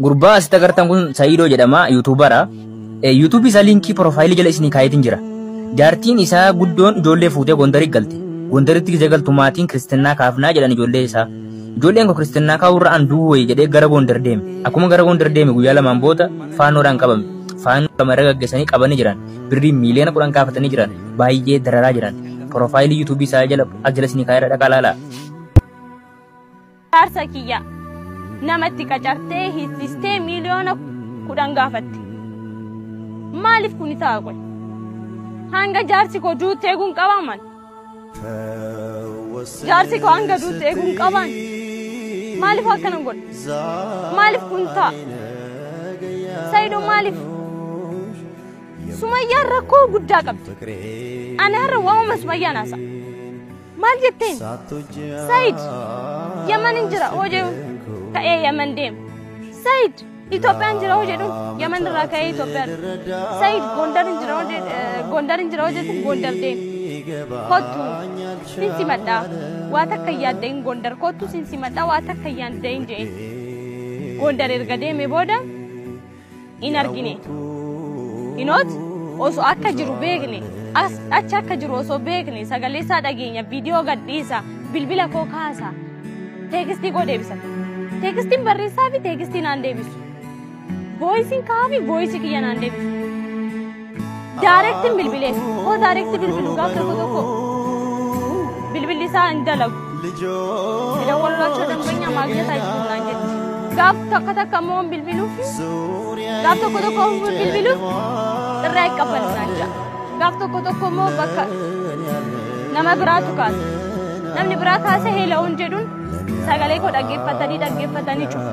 Gurbaa asitti agartan kun Sa'iidoo jedhama yuutuubara. Yuutuubii isaa liinkii piroofaayilii jala isinii kaayetiin jira. Jaartiin isaa guddoon ijoollee fuutee Gondarii galte. Gondaritti gizee galtu maatiin kiristinnaa kaafnaa jedhan ijoollee isaa. Ijoolleen koo kiristinnaa kaa'urra an du'uu wayii jedhee gara Gondar deeme. Akkuma gara Gondar deeme guyyaa lamaan booda faannoodhaan qabame. Faannoo lama irra gaggeessanii qabanii jiran. Birrii miiliyoona kudhan kaafatanii jiran. Baay'ee dararaa jiran. Piroofaayilii yuutuubii isaa jala as jala isinii kaa'eera dhaqaa laalaa. Jaarsa kiyya nama itti qacartee hiisistee miiliyoona kudhan gaafatte. Maaliif kuni ta'a qoy? Hanga jaarsi koo duutti eeguun qabaa mal? Jaarsi koo hanga duutti eeguun qabaan? Maaliif akkana godha? Maaliif kun ta'a? Sayido maaliif? Sumayyaan rakkoo guddaa qabdi. Ani har'a waamama Sumayyaan haasa. Maal jetteen? Sayid, Yaman hin jira hoo jedhuun ka'ee Yaman deema. Sayid, Itoophiyaan jira hoo jedhuun Yaman irraa ka'ee Itoophiyaa deema. Sayid, Gondar hin jira hoo jedhu- eh, Gondar hin jira hoo jedhuun Gondar deema. Kottu, sin simadhaa. Waa takka hin yaadda hin Gondar. Kottu sin simadhaa waa takka hin yaadda hin jedheen. Gondar erga deeme booda in argine inoot osoo akka jiru beekne as achi akka jiru osoo beekne sagalee isaa dhageenya viidiyoo gadhiisa bilbila koo kaasa teekistii koo deebisa teekistiin barreessaa fi teekistii naan deebisu vooyisiin kaa'aa fi vooyisii kiyya naan deebisu Daareektiin bilbilee hoo daareektii bilbilu gaaf tokko tokko bilbilli isaa hin dalagu. Dawwallaacha dambanyaa maagnetaa itti naan jedhu. Gaaf takka takka immoo hin bilbiluuf gaaf tokko tokko hin bilbiluuf irraa hin qabban naan jedha. Gaaf tokko tokko immoo bakka nama biraatu kaasa. Namni biraa kaasa heela'uun jedhuun sagalee koo dhaggeeffatanii dhaggeeffatanii cufu.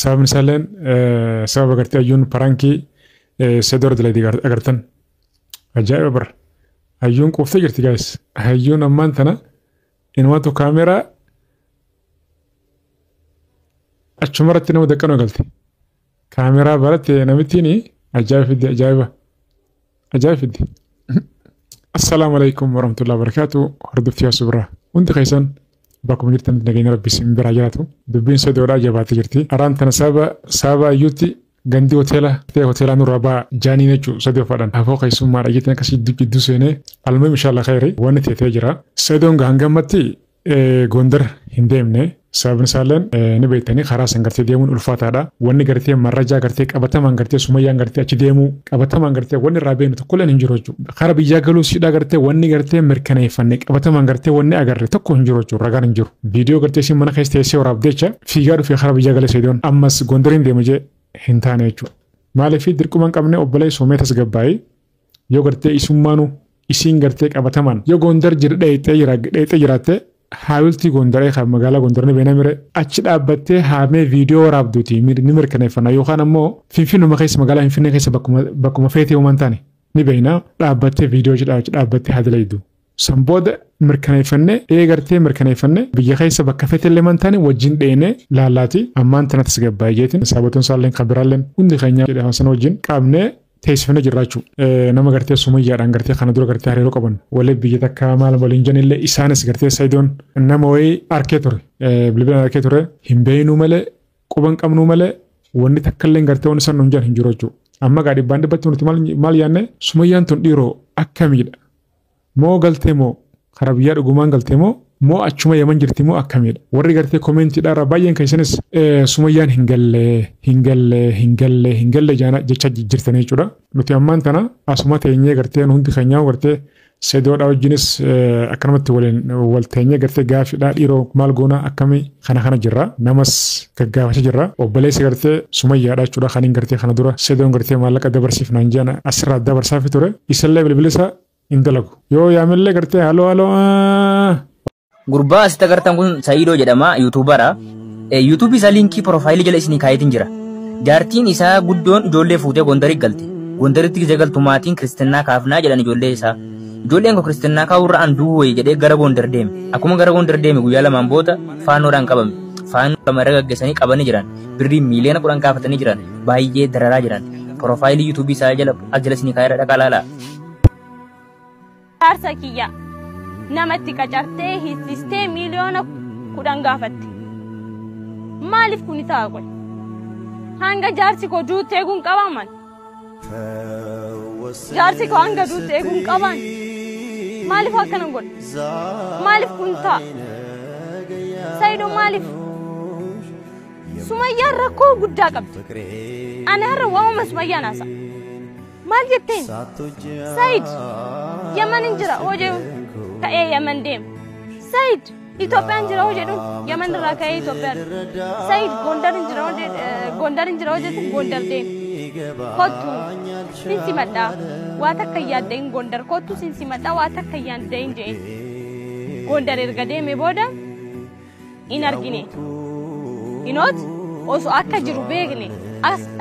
Sababni isaalleen sababa agartee ayyuun parankii sedoor dilaydi agartan. Ajaa'iba bara. Ayyuun quuftee jirti gaayis. Ayyuun ammaan tana inumatu kaameeraa achuma irratti nama daqqanoo galte. Kaameeraa baratte namittiin ajaa'iba fidde ajaa'iba. Ajaa'ibiddi. Assalaamu alaikum warahmatullahi wabarakatuh. Hordoftii Asubraa. Hundi keessan bakkuma jirtanitti nageenya rabbi isin biraa jiraatu. Dubbiin sodoodhaa jabaatee jirti. Araan tana saaba saaba ayyuutti gandi hoteela ta'e hoteelaa nurraa ba'a jaaniin jechuun sadoo fadhan afoo keessummaa dhageetiin akkasii gidduu seenee almuun inshaalla khayri wanni teetee jira. Sadoon hangammatti Gondar hin deemne sababni isaalleen ni beektanii karaa san gartee deemuun ulfaataadha. Wanni gartee marrajaa gartee qabatamaan gartee sumayyaan gartee achi deemuu qabatamaan gartee wanni irraa beeknu tokkolleen hin jiru jechuudha. Kara biyyaa galuu siidhaa gartee wanni gartee mirkaneeffanne qabatamaan gartee wanni agarre tokko hin jiru jechuudha ragaan hin jiru. Viidiyoo gartee isin mana keessa teessee waraabdee jecha fiigaa dhufee kara biyyaa galee seedoon ammas gondariin deema jee hin taane jechuudha. Maaliif dirquma hin qabne obboleessa sumayyaa tasgabbaa'ee Yoo gartee isummaanu isiin gartee qabatamaan yoo Gondar jira dheexee jira dheexee jiraatte haawiltii Gondaree kan magaalaa Gondar ni beena mire achi dhaabbattee haamee viidiyoo waraabduuti ni mirkaneeffana yookaan ammoo Finfinnuma keessa magaalaa Finfinnee keessa bakkuma bakkuma feetee uumaan taane ni beena dhaabbattee viidiyoo achi dhaabbattee haa dalaydu. San booda mirkaneeffannee dhee gartee mirkaneeffannee biyya keessa bakka fete illee man taane wajjin dheenee laallaati ammaan tana tasgabbaa'ee jeetiin saabatoon saalleen kan biraalleen hundi keenya jedhe hawaasana wajjin qaabnee teessifne jirraachuu nama gartee sumayyaadhaan gartee kana dura gartee hariiroo qaban walee biyya takka maal waliin jiran illee isaanis gartee sayidoon nama wayii arkee ture bilbilaan arkee ture hin beeynuu malee quban qabnuu malee wanni takka illee gartee wanni san nuun jiran hin jiru jechuudha. Amma gaa dhibbaan dhibbatti nuti maal yaanne sumayyaan tun dhiiroo akkamiidha Moo galtee moo karaa biyyaa dhugumaan galtee moo moo achuma yaman jirti moo akkamiidha warri gartee koomeentii dhaara baay'een keessanis sumayyaan hin galle hin galle hin galle hin galle jaana jecha jijjirtanii jechuudha nuti ammaan tana asuma teenyee gartee hundi keenyaa gartee sedoodhaa wajjinis akkanumatti waliin wal teenyee gartee gaaffiidhaa dhiiroo maal goonaa akkamii kana kana jirra namas gaggaafachaa jirra obboleessi gartee sumayyaadha jechuudha kaniin gartee kana dura sedoon gartee maallaqa dabarsiif naan ji'an asirraa dabarsaafi ture isallee bilbilisa hin dalagu yoo yaamellee gartee haloo haloo aa. Gurbaa asitti agartan kun Sayiidoo jedhama yuutuubara. Yuutuubii isaa liinkii piroofaayilii jala isinii kaayetiin jira. Jaartiin isaa guddoon ijoollee fuutee Gondarii galte. Gondaritti gizee galtu maatiin kiristinnaa kaafnaa jedhan ijoollee isaa. Ijoolleen koo kiristinnaa kaa'uu irra an du'uu wayii jedhee gara Gondar deeme. Akkuma gara Gondar deeme guyyaa lamaan booda faannoodhaan qabame. faanuu kameeraa gaggeessanii qabanii jiran birrii miiliyoona kudhan kaafatanii jiran baay'ee dararaa jiran piroofaayilii yuutuubii isaa jala as jala isinii kaa'eera dhaqaa laalaa. Jaarsa kiyya namatti qacartee hiisistee miiliyoona kudhan gaafatte. Maaliif kun ta'a qoy? Hanga jaarsi koo duuteeguun qabaman Jaarsi koo hanga duutti eeguun qabaan maaliif akkana godha? Maaliif kun ta'a? Sayido maaliif? Sumayyaan rakkoo guddaa qabdi. Ani har'a waamama Sumayyaan haasa'a. Maal jetteen? Sayid, Yaman hin jira hojii ka'ee Yaman deema. Sayid, Itoophiyaan jira hoo jedhu Yaman irraa ka'ee Itoophiyaa dhufe. Sayid Gondar hin jira hoo jedhu Gondar hin jira hoo jedhu Gondar deeme. Kottu sin simadha waa takka hin yaadda hin Gondar kottu sin simadha waa takka hin yaadda hin jedhe. Gondar erga deeme booda hin argine. Inoot osoo akka jiru beekne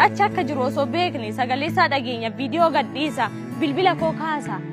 achi akka jiru osoo beekne sagalee isaa dhageenya viidiyoo gadhiisa bilbila koo kaasa.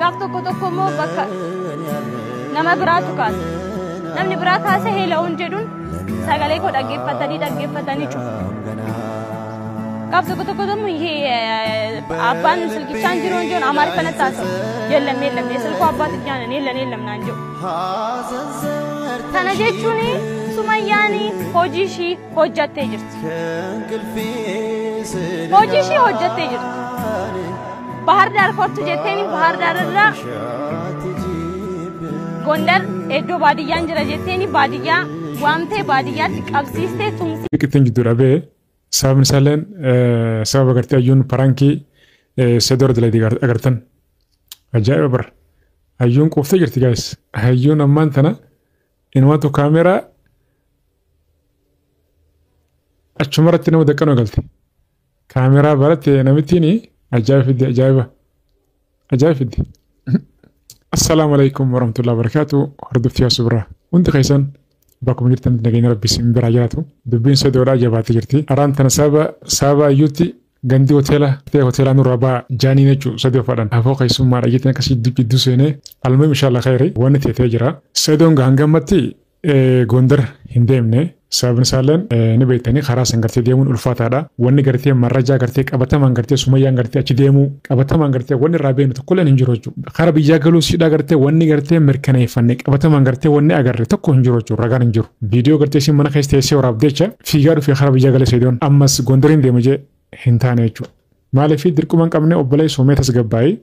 Gaaf tokko tokko immoo bakka nama biraatu kaasa. Namni biraa kaasa heela'uun jedhuun sagalee koo dhaggeeffatanii dhaggeeffatanii cufu. Gaaf tokko tokko immoo yee- abbaan silkichaan jiru hin jiru amaariffaa natti haasa'u. Yeellam yeellam silkoo abbaatiin jaanan yeellam yeellam naan jedhu. Kana jechuun sumayyaan hojii ishii hojjattee jirti. Hojii ishii hojjattee jirti. Bahar Daar kottu jetteen Bahar Daar irraa Gondar iddoo baadiyyaan jira jetteen baadiyyaa waamtee baadiyyaatti qabsiistee tumsee. Biqiltuun jidduu dhabee sababni isaalleen sababa agartee ayyuun parankii sedoora dalagdee agartan ajaa'iba bara ayyuun quuftee jirti gaayis ayyuun ammaan tana. Inumatu kaameraa achuma irratti nama daqqanoo galte. Kaameraa baratte namittiin ajaa'iba fidde ajaa'iba. Ajaa'iba fidde. Assalaamu alaikum warahmatullahi wabarakatuh hordoftii as biraa hundi keessan bakkuma jirtan nageenya rabbi isin biraa jiraatu dubbiin sodoodhaa jabaatee jirti araan tana saaba saaba ayyuutti Gandi hoteela ta'e hoteelaa nurraa ba'a jaaniin jechuun sadii offaadhaan afoo keessummaadha jettee akka sidduu jidduu seenee almuhim inshaalla khayri wanni teetee jira. Sedoon gahan gammatti Gondar hin deemne sababni isaalleen ni beektanii karaa san gartee deemuun ulfaataadha. Wanni gartee marrajaa gartee qabatamaan gartee sumayyaan gartee achi deemuu qabatamaan gartee wanni irraa beeknu tokkolleen hin jiru jechuudha. Kara biyyaa galuu siidhaa gartee wanni gartee mirkaneeffanne qabatamaan gartee wanni agarre tokko hin jiru jechuudha ragaan hin jiru. Viidiyoo gartee isin mana keessa teessee waraabdee jecha Fiigaa dhufee karaa biyyaa gale Seedoon ammas Gondariin deema jee hin taane jechuudha. Maaliif dirquma hin qabne obboleessi soomee tasgabbaa'ee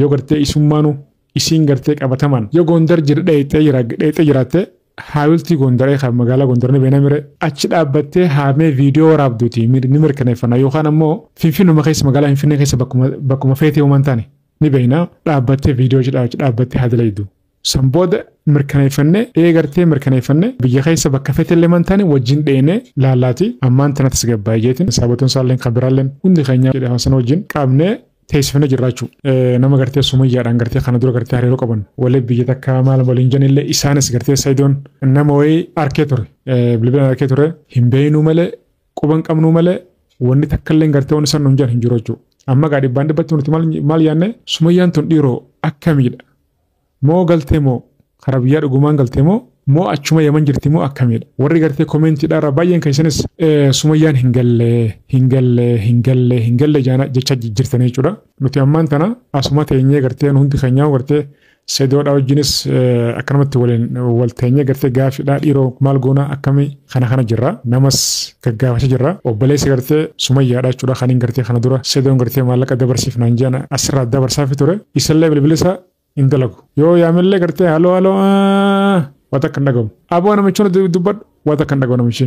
yoo gartee isummaanuu isiin gartee qabatamaan yoo Gondar jira dheexee jira dheexee jiraattee haawiltii Gondaree kan magaalaa Gondar ni beena mire achi dhaabbattee haamee viidiyoo waraabduuti ni mirkaneeffana yookaan ammoo Finfinnuma keessa magaalaa Finfinnee keessa bakkuma feetee uumaan taane ni beekna dhaabbattee viidiyoo achi dhaabbattee haa dalaydu. San booda mirkaneeffannee dhee gartee mirkaneeffannee biyya keessa bakka fete illee man taane wajjin dheenee laallaati ammaan tana tasgabbaa'e jeetiin saabatoon saalleen kan biraalleen hundi keenya jedhe hawaasana wajjin qaabnee teessifne jirraachuu nama gartee sumayyaadhaan gartee kana dura gartee hariiroo qaban walee biyya takka maal waliin jan illee isaanis gartee sayidoon nama wayii arkee ture bilbilaan arkee ture hin beeynuu malee quban qabnuu malee wanni takka illee gartee wanni san nuun jan hin jiru jechuu amma gaa dhibbaan dhibbatti nuti maal yaanne sumayyaan tun dhiiroo akkamiidha Moo galtee moo karaa biyyaa dhugumaan galtee moo moo achuma yaman jirti moo akkamiidha warri gartee komeentiidha irra baay'een keessanis sumayyaan hin galle hin galle hin galle hin galle jaana jecha jijjirtanii jechuudha nuti ammaan tana asuma teenyee gartee hundi keenyaa gartee sedoodha wajjinis akkanumatti waliin wal teenyee gartee gaafiidha dhiiroo maal goona akkamii kana kana jirra namas gaggaafachaa jirra obboleessi gartee sumayyaadha jechuudha kaniin gartee kana dura sedoon gartee maallaqa dabarsiif naan ji'an asirraa dabarsaafi ture isallee bilbilisa hin dalagu yoo yaamellee gartee haloo haloo waa takka hin dhagahu aboo namichoon dubbadhu waa takka hin dhagahu namichi